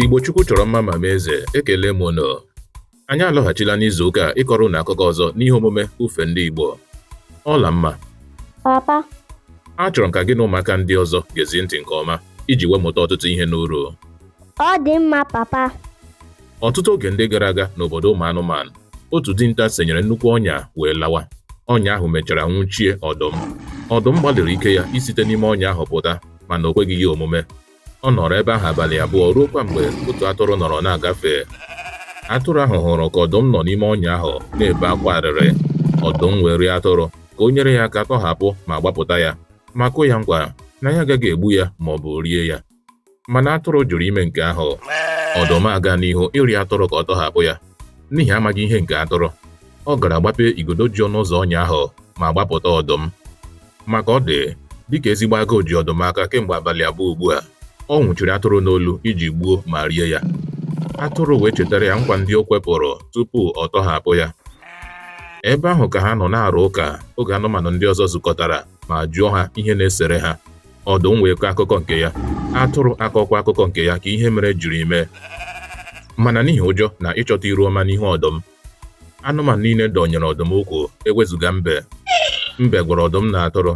Igbo Chukwu chọrọ mma ma mee eze ekelee m unu anyị alọghachila n'izu ụka a ịkọrọ unu akụkọ ọzọ n'ihe omume ufe ndị Igbo Ọlamma papa achọrọ m ka gị na ụmụaka ndị ọzọ gezie ntị nke ọma iji wee mụta ọtụtụ ihe n'uru ọ dị mma papa ọtụtụ oge ndị gara aga n'obodo ụmụ anụmanụ otu dinta senyere nnukwu ọnya wee lawa ọnya ahụ mechara nwụchie ọdụm ọdụm gbalịrị ike ya isite n'ime ọnya ahụ pụta mana o kweghị ya omume Ọ nọrọ ebe ahụ abalị abụọ ruokwa mgbe otu atụrụ nọrọ na-agafe. Atụrụ ahụ hụrụ ka ọdụm nọ n'ime ọnya ahụ na-ebe akwa arịrị. Ọdụm wee rịọ atụrụ ka o nyere ya aka tọhapụ ma gbapụta ya, ma kwe ya nkwa na ya agaghị egbu ya ma ọ bụ rie ya. Mana atụrụ jụrụ ime nke ahụ. Ọdụm aga n'ihu ịrịọ atụrụ ka ọ tọhapụ ya. N'ihi amaghị ihe nke atụrụ, ọ gara gbapee igodo ji ọnụ ụzọ ọnya ahụ ma gbapụta ọdụm. Ma ka ọ dị dịka ezigbo agụụ ji ọdụm aka kemgbe abalị abụọ ugbu a ọ nwụchiri atụrụ n'olu iji gbuo ma rie ya atụrụ wee chetara ya nkwa ndị o kwepụrụ tupu ọ tọhapụ ya ebe ahụ ka ha nọ na-arụ ụka oge anụmanụ ndị ọzọ zukọtara ma jụọ ha ihe na-esere ha ọdụm wee kọọ akụkọ nke ya atụrụ akọọkwa akụkọ nke ya ka ihe mere jiri mee mana n'ihi ụjọ na ịchọta iru ọma n'ihu ọdụm anụmanụ niile dọnyere ọdụm ụkwụ ewezuga mbe mbe gwara ọdụm na atụrụ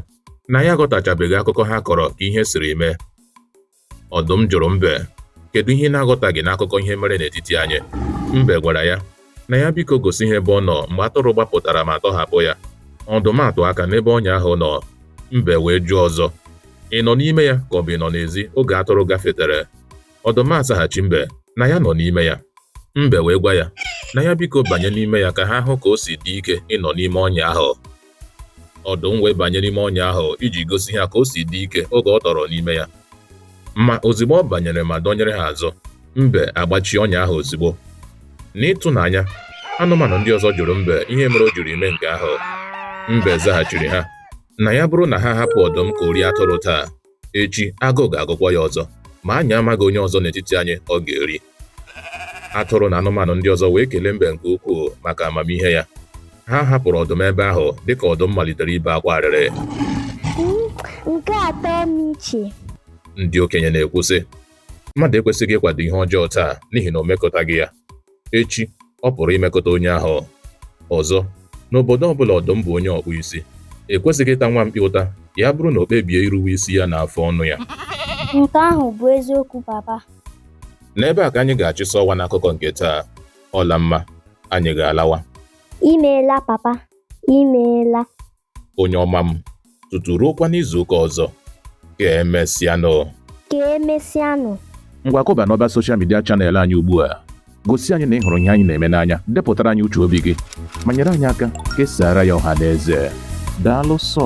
na ya aghọtachabeghị akụkọ ha kọrọ ka ihe siri mee ọdụm jụrụ mbe kedu ihe ị na-aghọtaghị n'akụkọ ihe mere n'etiti anyị mbe gwara ya na ya biko gosi ha ebe ọ nọ mgbe atụrụ gbapụtara ma tọhapụ ya ọdụm atụọ aka n'ebe ọnya ahụ nọ mbe wee jụọ ọzọ ị nọ n'ime ya ka ọ bụ ị nọ n'ezi oge atụrụ gafetere Ọdụm azaghachi mbe na ya nọ n'ime ya. Mbe wee gwa ya na ya biko banye n'ime ya ka ha hụ ka o si dị ike ịnọ n'ime ọnya ahụ. Ọdụm wee banye n'ime ọnya ahụ iji gosi ha ka o si dị ike oge ọ tọrọ n'ime ya. Ma ozugbo ọ banyere ma dọnyere ha azụ, mbe agbachie ọnya ahụ ozugbo. N'ịtụnanya, anụmanụ ndị ọzọ jụrụ mbe ihe mere o jiri mee nke ahụ. Mbe zaghachiri ha na ya bụrụ na ha hapụ ọdụm ka o rie atụrụ taa, echi agụụ ga-agụkwa ya ọzọ ma anyị amaghị onye ọzọ n'etiti anyị ọ ga-eri atụrụ na anụmanụ ndị ọzọ wee kelee mbe nke ukwuu maka amamihe ya ha hapụrụ ọdụm ebe ahụ dịka ọdụm malitere ibe akwa arịrị nke atọ m iche ndị okenye na-ekwu sị mmadụ ekwesịghị ịkwado ihe ọjọọ taa n'ihi na o mekọtaghị ya echi ọ pụrụ imekọta onye ahụ. Ọzọ, n'obodo ọ bụla ọdụm bụ onye ọkpụ isi, ekwesịghị ịta nwa mkpi ụta ya bụrụ na o kpebie iruwe isi ya na afọ ọnụ ya. Nke ahụ bụ eziokwu papa. N'ebe a ka anyị ga-achịsa ọwa n'akụkọ nke taa. Ọlamma, anyị ga-alawa. Imeela papa, imeela. onye ọma m tutu ruokwa n'izuụka ọzọ ka emesịanụ ka emesịanụ ngwa kụba n'ọba soshal midia chanel anyị ugbu a gosi anyị na ị hụrụ ihe anyị na-eme n'anya depụtara anyị uche obi gị ma nyere anyị aka kesara ya ọha na eze daalụ sọ